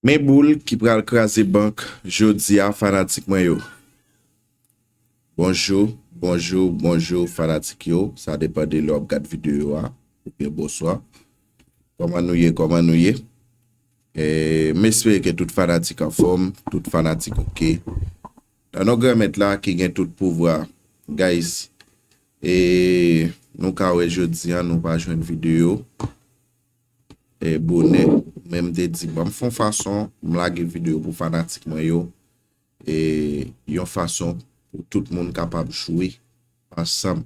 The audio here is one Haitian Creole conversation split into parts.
Men boul ki pral kraze bank jodia fanatik mwen yo. Bonjou, bonjou, bonjou fanatik yo, sa depan de lè wap gad videyo a, oubyen bonswa. Koman nou ye, koman nou ye? M espere ke tout fanatik anfòm, tout fanatik ok. Nan non gran mèt la ki gen tout pouvwa, guys, e nou ka wè jodia nou pa jwenn videyo. bonè men m te di banm fon fason m lage video pou fanatik mwen yo yon fason pou tout moun kapab jwe ansanm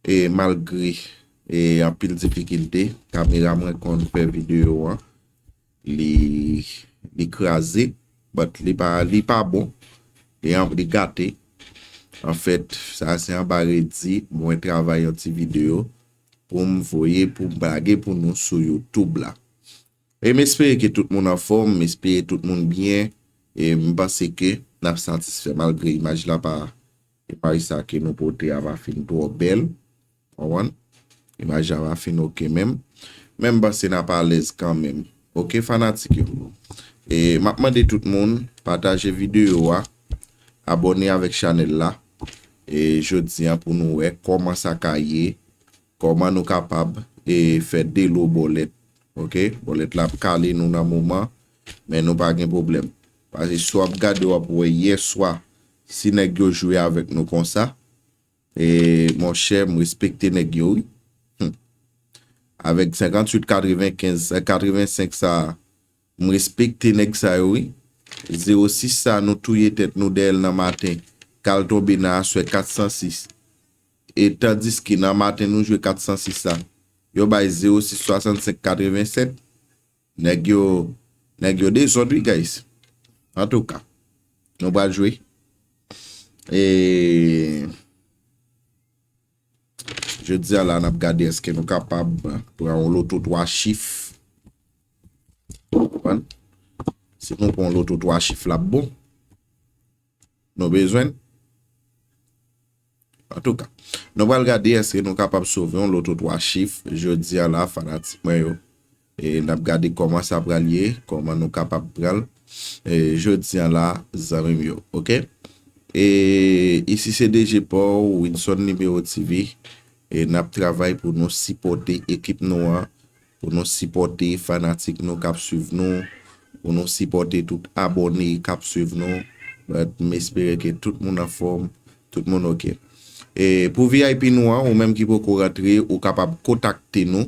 e malgre anpil difikilte kamera mwen konn fè video an li kraze but li pa bon li gate anfèt sa se anba redi mwen travay yon ti video poum voye poum lage pou nou sou youtube la em espere ke tout moun anfòm m espere tout moun byen em panse ke nap satisfè malgre imaj la pa imaj sa ke nou pote a pa fin twò bèl konprann imaj la pa fin ok menm men m panse nap alèz kanmenm ok fanatik yo e map mande tout moun pataje video a Abòne avèk chanèl la e jodi an pou nou wè kòman sa ka ye kòman nou kapab e fè delo bòlèt ok bòlèt la ap kale nou nan moman men nou pa gen pwoblèm pase si wap gade wap wè yèswa si nèg yo jwe avèk nou konsa e monchè m respekte nèg yo wi humm avèk 58 95 85 sa M respekte neg sa yo wi. Zero 6 sa nou touye tet nou dèyèl nan maten kal tonbe nan aswè 406 e tandiske nan maten nou jwe 406 la yo bay zero 6 65 87 neg yo neg yo dezod wi guys antouka nou pral jwe e. Jodi a la nap gade eske nou kapab pran yon loto 3 chif. Konprann? Si nou pran yon loto 3 chif lap bon. Nou bezwenn? Antouka, nou pral gade eske nou kapab sove yon loto 3 chif jodi a la fanatik mwen yo. N ap gade kòman sa pral ye, kòman nou kapab pran l jodi an la zanmi m yo ok. E isi se DG pa w Wilson Libero TV e n ap travay pou nou sipòte ekip nou an, pou nou sipòte fanatik nou k ap swiv nou, pou nou sipòte tout abòne k ap swiv nou. M espere ke tout moun anfòm, tout moun ok. E pou vip nou an, ou menm ki poko rantre, ou kapab kontakte nou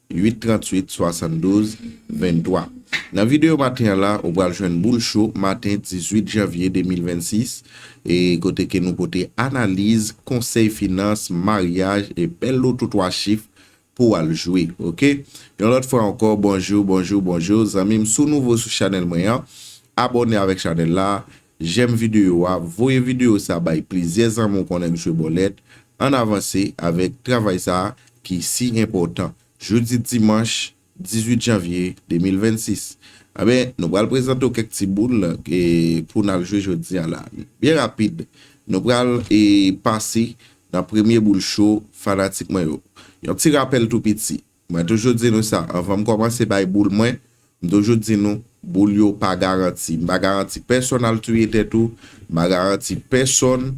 8 38 72 23 Nan videyo maten an la ou pral jwenn boul cho maten 18 janvye 2026 e kote ke nou pote analiz, konsèy finans, maryaj e bèl loto 3 chif pou w al jwe ok Yon lòt fwa ankò bonjou bonjou bonjou zanmi m si w nouvo sou chanèl mwen an abòne avèk chanèl la Jèm videyo a, voye videyo sa bay plizyè zanmi w konnen Msye Bòlèt, ann avanse avèk travay sa ki si enpòtan. Jodi dimanch 18 janvye 2026, anben nou pral prezante w kèk ti boul pou n al jwe jodi a la. Byen rapid, nou pral pase nan premye boul cho fanatik mwen yo. Yon ti rapèl tou piti, Mwen toujou di nou sa, anvan m kòmanse bay boul mwen, m toujou di nou, boul yo pa garanti. M pa garanti pèsonn al touye tèt ou, m pa garanti pèsonn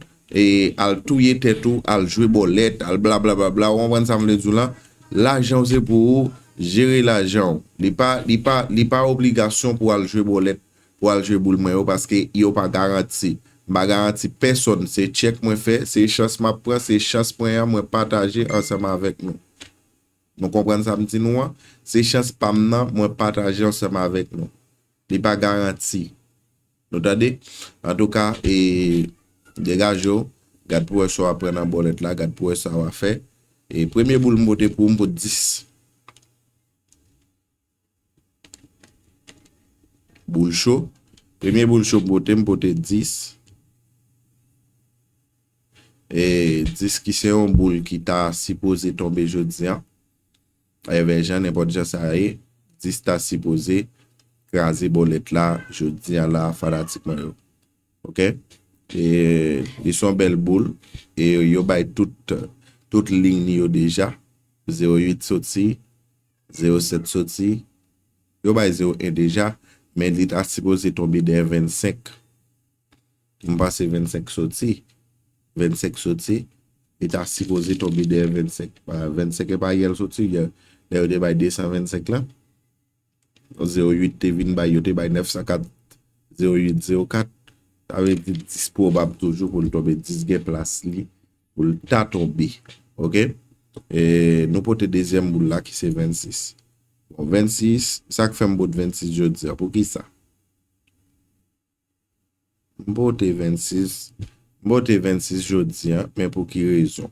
al touye tèt ou, al jwe bòlèt, al blablablabla, ou konprann sa m vle di w lan? Lajan w se pou ou jere lajan w. Li pa, li pa, li pa obligasyon pou w al jwe bòlèt, pou w al jwe boul mwen yo, paske yo pa garanti. M pa garanti pèsonn, se tchèk mwen fè, se chans m ap pran, se chans mwen an mwen pataje ansanm avèk nou. Nou konprann sa m di nou an? Se chans pa m nan, mwen pataje ansanm avèk nou. Li pa garanti. Nou tande? Antouka, e, degaje w, gad pou wè sa w ap pran nan bòlèt la, gad pou wè sa w a fè. E, premye boul m pote pou ou, m pot 10. Boul cho, Premye boul cho m pote, m pote 10. E 10 ki se yon boul ki ta sipoze tonbe jodi an. Evè jan, nenpòt jan sa ye, 10 ta sipoze kraze bòlèt la jodi an la fanatik mwen yo. Ok? E li son bèl boul. E yo bay tout lign yo deja. 08 soti. Zero sèt soti, yo bay zero en deja, men li ta sipoze tonbe dèyè vennsenk. M panse vennsenk soti. Vennsenk soti, li ta sipoze tonbe dèyè vennsenk. Vennsenk e pa yè l soti, lè yo te bay desan vennsenk lan. Zero uit te vin bay, yo te bay nèfsan kat, zero uit, zero kat. Sa vle di dis pwobab toujou pou l tonbe, dis gen plas li. Pou l ta tonbe. Ok. E nou pote dezyèm boul la ki se 26. Bon 26, sa k fè m pot 26 jodi a? Pou ki sa? M pote 26, m pote 26 jodi a, men pou ki rezon?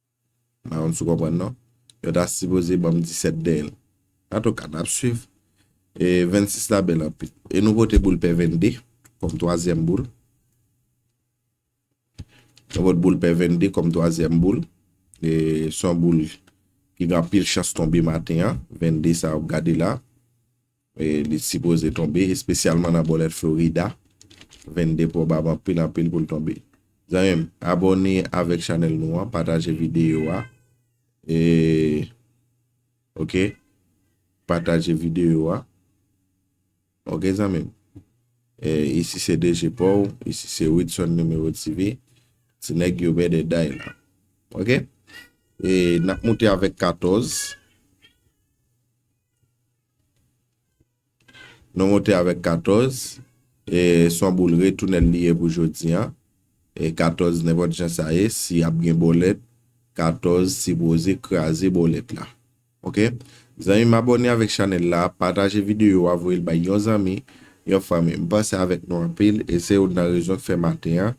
M pa konn si w konprann non. Yo ta sipoze ban m 17 dèyè l. Antouka, n ap swiv. E 26 la bèl anpil. E nou vote boul pè 22 kòm twazyèm boul. Nou vote boul pè 22 kòm twazyèm boul. E s on boul ki gen anpil chans tonbe maten an. 22 sa w ap gade la. Li sipoze tonbe, espesyalman nan bòlèt Florida. 22 pwobab anpil anpil pou l tonbe. Zanmi m, abòne avèk chanèl nou an, pataje videyo a. E, ok, pataje videyo a. Ok zanmi m. E, isi se DG Paw, isi se Widson Numero TV. Ti nèg yo bèdè day la. Ok? E, n ap moute avèk 14. Nou monte avèk 14, e son boul retounèl li ye pou jodi an. E 14 nenpòt jan sa ye, si ap gen bòlèt, 14 sipoze kraze bòlèt la. Ok. Zanmi m abòne avèk chanèl la, pataje videyo a, voye l bay yon zanmi, yon fanmi. M panse avèk nou anpil, e se youn nan rezon k fè maten an,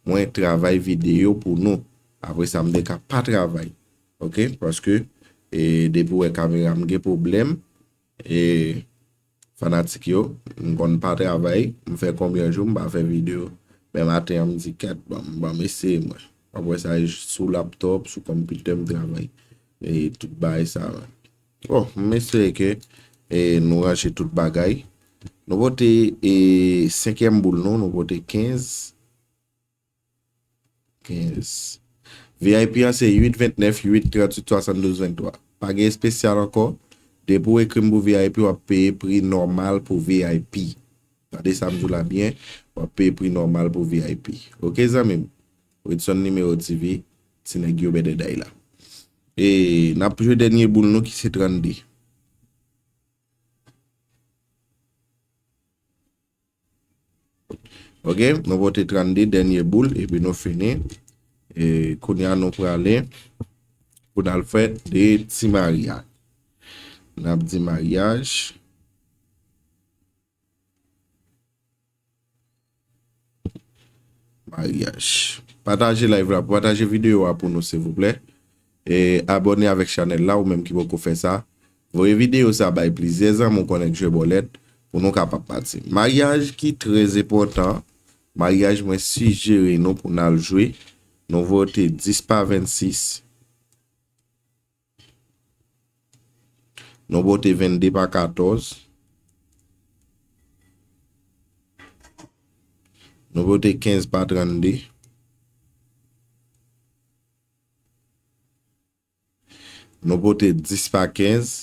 mwen travay videyo pou nou. Apresa m te ka pa travay. ok paske depi wè kamera m gen pwoblèm e fanatik yo m konn pa travay m fè konbyen jou m pa fè video men maten an m di ket banm eseye mwen wap wè sa e sou laptop sou konpitè m travay e tout bagay sa bon m espere ke nou ranje tout bagay nou pote 5 èm boul nou nou pote 15. 15. Vip an se 8 29 8 38 72 23. Pa gen espesyal ankò, depi w ekri m pou vip w ap peye pri nòmal pou vip. Tande sa m di w la byen, w ap peye pri nòmal pou vip. Ok zanmi m? Wedson Numero TV, ti nèg yo bèdèdèy la. E n ap jwe dènye boul nou ki se 32. Ok nou vote 32 dènye boul epi nou fini e kounya nou prale pou n al fè 2 ti maryaj n ap di maryaj maryaj pataje live la pataje videyo a pou nou silvouplè E abòne avèk chanèl la ou menm ki poko fè sa, voye videyo sa bay plizyè zanmi w konnen k jwe bòlèt pou nou ka pa pati. Maryaj ki trè epòtan, maryaj mwen sijere nou pou nal jwe, nou vote 10 pa 26, nou vote 22 pa 14, nou vote 15 pa 32. Nou pote 10 pa 15.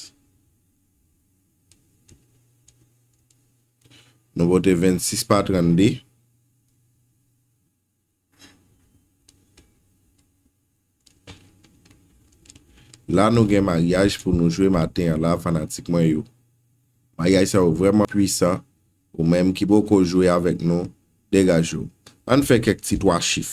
Nou pote 26 pa 32. La nou gen maryaj pou nou jwe maten an la fanatik mwen yo. Maryaj sa yo vrèman pwisan. Ou menm ki poko jwe avèk nou, degaje w. Ann fè kèk ti 3 chif.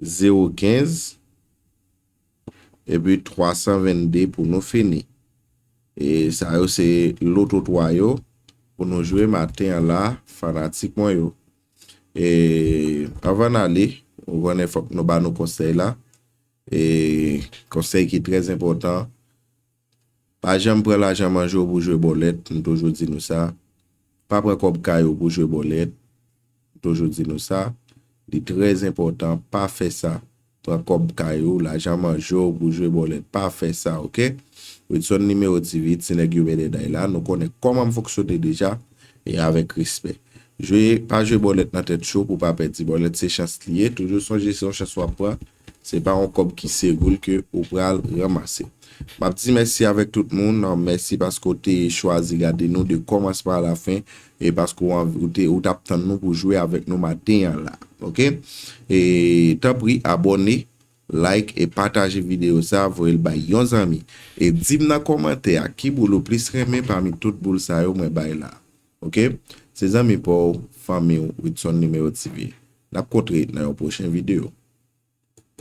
Zewo kenz, epi 322 pou nou fini. E sa yo se loto 3 yo pou nou jwe maten an la fanatik mwen yo. E avan n ale, ou konnen fòk nou ba nou konsèy la. E konsèy ki trèzenpòtan. Pa janm pran lajan manje w pou jwe bòlèt, m toujou di nou sa. Pa pran kòb kay ou pou jwe bòlèt, m toujou di nou sa. Li trè enpòtan, pa fè sa. Pran kòb kay ou, lajan manje w pou jwe bòlèt, pa fè sa ok. Widson Nimewo TV, ti nèg yo bèdèday la, nou konnen kòman m fonksyone deja, e avèk respè. Jwe, pa jwe bòlèt nan tèt cho pou w pa pèdi. Bòlèt se chans li ye, toujou sonje se yon chans w ap pran. Se pa yon kòb ki seroul ke ou pral ranmase. Map di mèsi avèk tout moun, mèsi paske w te chwazi gade nou de kòmansman a la fen e paske w anvi ou te ou tap tann nou pou jwe avèk nou maten an la ok e tanpri abòne like e pataje videyo sa voye l bay yon zanmi e di m nan kòmantè a ki boul ou plis renmen pami tout boul sa yo mwen bay la. Ok se zanmi paw fanmiw Widson Numero TV nap kontre nan yon pwochen video.